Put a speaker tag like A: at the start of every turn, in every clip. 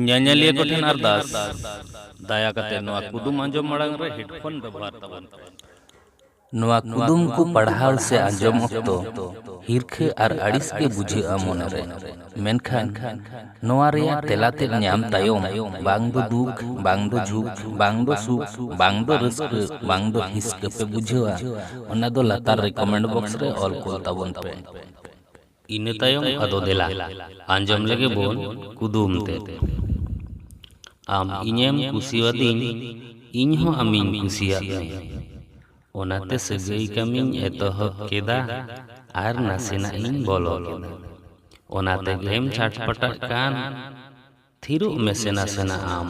A: ᱧᱮᱧᱮᱞᱤᱭᱟᱹ ᱠᱚ ᱴᱷᱮᱱ ᱟᱨᱫᱟᱥ ᱫᱟᱭᱟ ᱠᱟᱛᱮ ᱱᱚᱣᱟ ᱠᱩᱫᱩᱢ ᱟᱸᱡᱚᱢ ᱢᱟᱲᱟᱝ ᱨᱮ ᱦᱮᱰᱯᱷᱳᱱ ᱵᱮᱵᱚᱦᱟᱨ ᱛᱟᱵᱚᱱ ᱯᱮ ᱱᱚᱣᱟ ᱠᱩᱫᱩᱢ ᱠᱚ ᱯᱟᱲᱦᱟᱣ ᱥᱮ ᱟᱸᱡᱚᱢ ᱚᱠᱛᱚ ᱦᱤᱨᱠᱷᱟᱹ ᱟᱨ ᱟᱹᱲᱤᱥ ᱜᱮ ᱵᱩᱡᱷᱟᱹᱜᱼᱟ ᱢᱚᱱᱮᱨᱮ ᱢᱮᱱᱠᱷᱟᱱ ᱱᱚᱣᱟ ᱨᱮᱭᱟᱜ ᱛᱮᱞᱟ ᱛᱮᱫ ᱧᱟᱢ ᱛᱟᱭᱚᱢ ᱵᱟᱝ ᱫᱚ ᱫᱩᱠ ᱵᱟᱝ ᱫᱚ ᱡᱷᱩᱠ ᱵᱟᱝ ᱫᱚ ᱥᱩᱠ ᱵᱟᱝ ᱫᱚ ᱨᱟᱹᱥᱠᱟᱹ ᱵᱟᱝ ᱫᱚ ᱦᱤᱥᱠᱟᱹ ᱯᱮ ᱵᱩᱡᱷᱟᱹᱣᱟ ᱚᱱᱟ ᱫᱚ ᱞᱟᱛᱟᱨ ᱨᱮ ᱠᱚᱢᱮᱱᱴ ᱵᱚᱠᱥ ᱨᱮ ᱚᱞ ᱠᱚᱞ ᱛᱟᱵᱚᱱ ᱯᱮ ᱤᱱᱟᱹ ᱛᱟᱭᱚᱢ ᱟᱫᱚ ᱫᱮᱞᱟ ᱟᱸᱡᱚᱢ ᱞᱮᱜᱮ ᱵᱚᱱ ᱠᱩᱫᱩᱢ ᱛᱮ ᱟᱢ ᱤᱧᱮᱢ ᱠᱩᱥᱤᱭᱟᱫᱤᱧ ᱤᱧ ᱦᱚᱸ ᱟᱢᱤᱧ ᱠᱩᱥᱤᱭᱟᱫ ᱢᱮᱭᱟ ᱚᱱᱟᱛᱮ ᱥᱟᱹᱜᱟᱹᱭ ᱠᱟᱹᱢᱤᱧ ᱮᱛᱚᱦᱚᱵ ᱠᱮᱫᱟ ᱟᱨ ᱱᱟᱥᱮᱱᱟᱜ ᱤᱧ ᱵᱚᱞᱚ ᱠᱮᱫᱟ ᱚᱱᱟ ᱛᱮᱜᱮᱢ ᱪᱷᱟᱴᱯᱟᱴᱟᱜ ᱠᱟᱱ ᱛᱷᱤᱨᱚᱜ ᱢᱮᱥᱮ ᱱᱟᱥᱮᱱᱟᱜ ᱟᱢ᱾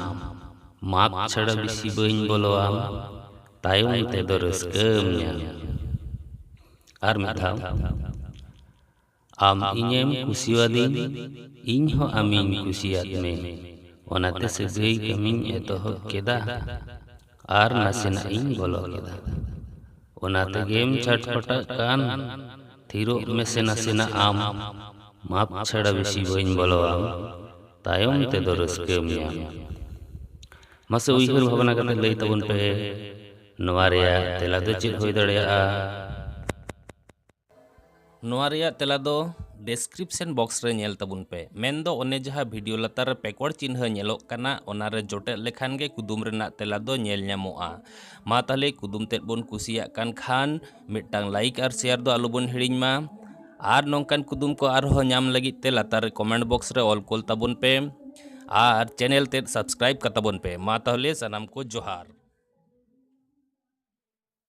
A: ᱢᱟᱯ ᱪᱷᱟᱲᱟ ᱵᱤᱥᱤ ᱵᱟᱹᱧ ᱵᱚᱞᱚ ᱟᱢ᱾ ᱛᱟᱭᱚᱢ ᱛᱮᱫᱚ ᱨᱟᱹᱥᱠᱟᱹᱢ ᱧᱟᱢ᱾ ᱟᱨ ᱢᱤᱫ ᱫᱷᱟᱣ᱾ ᱟᱢ ᱤᱧᱮᱢ ᱠᱩᱥᱤᱣᱟᱫᱤᱧ, ᱤᱧ ᱦᱚᱸ ᱟᱢᱤᱧ ᱠᱩᱥᱤᱭᱟᱫ ᱢᱮ᱾ ᱚᱱᱟᱛᱮ ᱥᱟᱹᱜᱟᱹᱭ ᱠᱟᱹᱢᱤᱧ ᱮᱛᱚᱦᱚᱵ ᱠᱮᱫᱟ᱾ ᱟᱨ ᱱᱟᱥᱮᱱᱟᱜ ᱤᱧ ᱵᱚᱞᱚ ᱠᱮᱫᱟ ᱚᱱᱟ ᱛᱮᱜᱮᱢ ᱪᱷᱟᱴᱯᱟᱴᱟᱜ ᱠᱟᱱ ᱛᱷᱤᱨᱚᱜ ᱢᱮᱥᱮ ᱱᱟᱥᱮᱱᱟᱜ ᱟᱢ ᱢᱟᱯ ᱪᱷᱟᱲᱟ ᱵᱮᱥᱤ ᱵᱟᱹᱧ ᱵᱚᱞᱚᱣᱟᱢ ᱛᱟᱭᱚᱢ ᱛᱮᱫᱚ ᱨᱟᱹᱥᱠᱟᱹᱢ ᱧᱟᱢ ᱢᱟᱥᱮ ᱩᱭᱦᱟᱹᱨ ᱵᱷᱟᱵᱽᱱᱟ ᱠᱟᱛᱮ ᱞᱟᱹᱭ ᱛᱟᱵᱚᱱ ᱯᱮ ᱱᱚᱣᱟ ᱨᱮᱭᱟᱜ ᱛᱮᱞᱟ ᱫᱚ ᱪᱮᱫ ᱦᱩᱭ ᱫᱟᱲᱮᱭᱟᱜᱼᱟ ᱱᱚᱣᱟ ᱨᱮᱭᱟᱜ ᱛᱮᱞᱟ ᱫᱚ ᱰᱮᱥᱠᱨᱤᱯᱥᱚᱱ ᱵᱚᱠᱥ ᱨᱮ ᱧᱮᱞ ᱛᱟᱵᱚᱱ ᱯᱮ ᱢᱮᱱᱫᱚ ᱚᱱᱮ ᱡᱟᱦᱟᱸ ᱵᱷᱤᱰᱤᱭᱳ ᱞᱟᱛᱟᱨ ᱨᱮ ᱯᱮᱠᱚᱲ ᱪᱤᱱᱦᱟᱹ ᱧᱮᱞᱚᱜ ᱠᱟᱱᱟ ᱚᱱᱟ ᱨᱮ ᱡᱚᱴᱮᱫ ᱞᱮᱠᱷᱟᱱ ᱜᱮ ᱠᱩᱫᱩᱢ ᱨᱮᱱᱟᱜ ᱛᱮᱞᱟ ᱫᱚ ᱧᱮᱞ ᱧᱟᱢᱚᱜᱼᱟ ᱢᱟ ᱛᱟᱦᱞᱮ ᱠᱩᱫᱩᱢ ᱛᱮᱫ ᱵᱚᱱ ᱠᱩᱥᱤᱭᱟᱜ ᱠᱟᱱ ᱠᱷᱟᱱ ᱢᱤᱫᱴᱟᱝ ᱞᱟᱭᱤᱠ ᱟᱨ ᱥᱮᱭᱟᱨ ᱫᱚ ᱟᱞᱚᱵᱚᱱ ᱦᱤᱲᱤᱧ ᱢᱟ ᱟᱨ ᱱᱚᱝᱠᱟᱱ ᱠᱩᱫᱩᱢ ᱠᱚ ᱟᱨᱦᱚᱸ ᱧᱟᱢ ᱞᱟᱹᱜᱤᱫ ᱛᱮ ᱞᱟᱛᱟᱨ ᱨᱮ ᱠᱚᱢᱮᱱᱴ ᱵᱚᱠᱥ ᱨᱮ ᱚᱞ ᱠᱳᱞ ᱛᱟᱵᱚᱱ ᱯᱮ ᱟᱨ ᱪᱮᱱᱮᱞ ᱛᱮᱫ ᱥᱟᱵᱥᱠᱨᱟᱭᱤᱵ ᱠᱟᱛᱟᱵᱚᱱ ᱯᱮ ᱢᱟ ᱛᱟᱦᱞᱮ ᱥᱟᱱᱟᱢ ᱠᱚ ᱡᱚᱦᱟᱨ